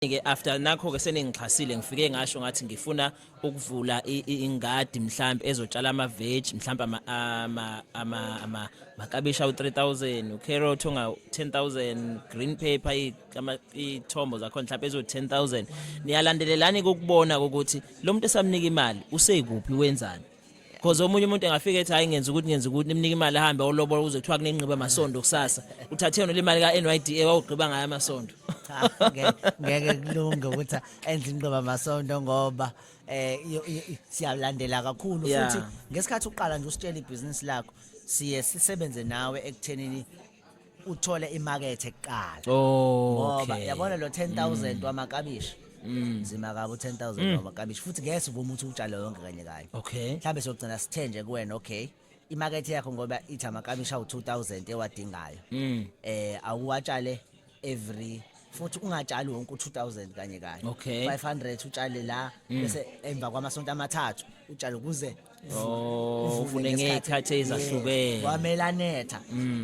ke after nakho ke seningixhasile ngifike ngasho ngathi ngifuna ukuvula ingadi mhlambe ezotshala ama veg mhlambe ama ama ama ama makabisha u3000 ucarrot onga 10000 green paper ithombo zakho mhlambe ezo 10000 niyalandelelani kokubona ukuthi lo muntu esamnika imali usekuphi wenzani Cause omunye umuntu engafika ethi hayi ngenza ukuthi ngenza ukuthi nimnike imali ahambe olobola kuze kuthiwa kunengqiba amasondo kusasa. Uthathe yona le mali ka NYDA wawugqiba ngayo amasondo. Cha, nge- ngeke kulunge ukuthi enze inqoba masondo ngoba eh yo- yo- siyalandela kakhulu Yeah. futhi ngesikhathi uqala nje usitshela ibhizinisi lakho siye sisebenze nawe ekuthenini uthole imakethe kuqala ngoba okay yabona lo 10000 wamakabishi nzima kabi u-10000 wamakabishi futhi ngeke sivume ukuthi utshale yonke kanye kanye okay mhlawumbe sogcina sithe nje kuwena okay imakethe yakho ngoba ithi amakabishi awu-2000 ewadingayo um awuwatshale every futhi ungatshali wonke u2000 kanye kanye Okay. 500 utshale la bese emva kwamasonto amathathu utshale kuze Oh, uvune ufune ngesikhathi. ngey'khathi ezahlukene. Yes, kwamele anetha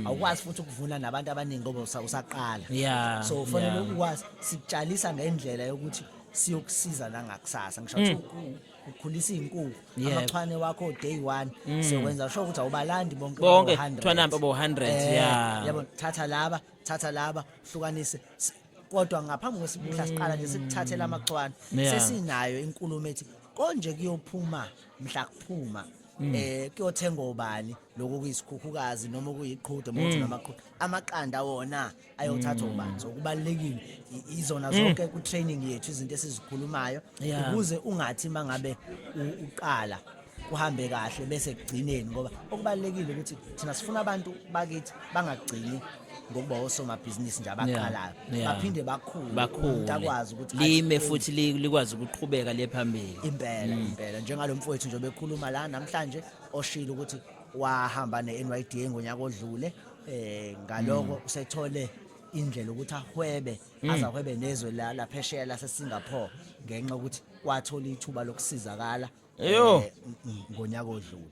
awukwazi futhi ukuvuna nabantu abaningi ngoba usa- usaqala Yeah, so ufanele yeah. ukwazi sikutshalisa ngendlela yokuthi siyokusiza nangakusasa ngisho ukuthi uku- ukhulisa iy'nkukhu Mm. Yeah. Mm. amachwane wakho day one siyokwenza sho ukuthi awubalandi bonke Bonke, bawu-100. thwanampe bawu-100, Eh, yeah. yabona thatha laba thatha laba hlukanise S- kodwa ngaphambi kwesibuhla siqala nje sikuthathela amachwane Yeah. sesinayo inkulumo ethi konje kuyophuma mhla kuphuma eh kuyothenga obani lokho kuyisikhukukazi noma kuyiqhude mothi namaqhude amaqanda wona ayothathwa ubani so kubalekile i- izona zonke ku training yethu izinto esizikhulumayo Yeah. ukuze ungathi mangabe u- uqala kuhambe kahle bese kugcineni ngoba okubalekile ukuthi thina sifuna abantu bakithi bangagcini ngokuba osomabhizinisi nje abaqalayo baphinde bakhule umuntu akwazi ukuthi lime futhi likwazi ukuqhubeka le phambili impela mm. impela njengalo mfowethu nje bekhuluma la namhlanje oshilo ukuthi wahamba ne-NYDA ngonyaka odlule eh ngaloko mm. usethole indlela ukuthi ahwebe mm. azahwebe nezwe la laphesheya laseSingapore ngenxa ukuthi wathola ithuba lokusizakala Eyo. eh, ng- ngonyaka odlule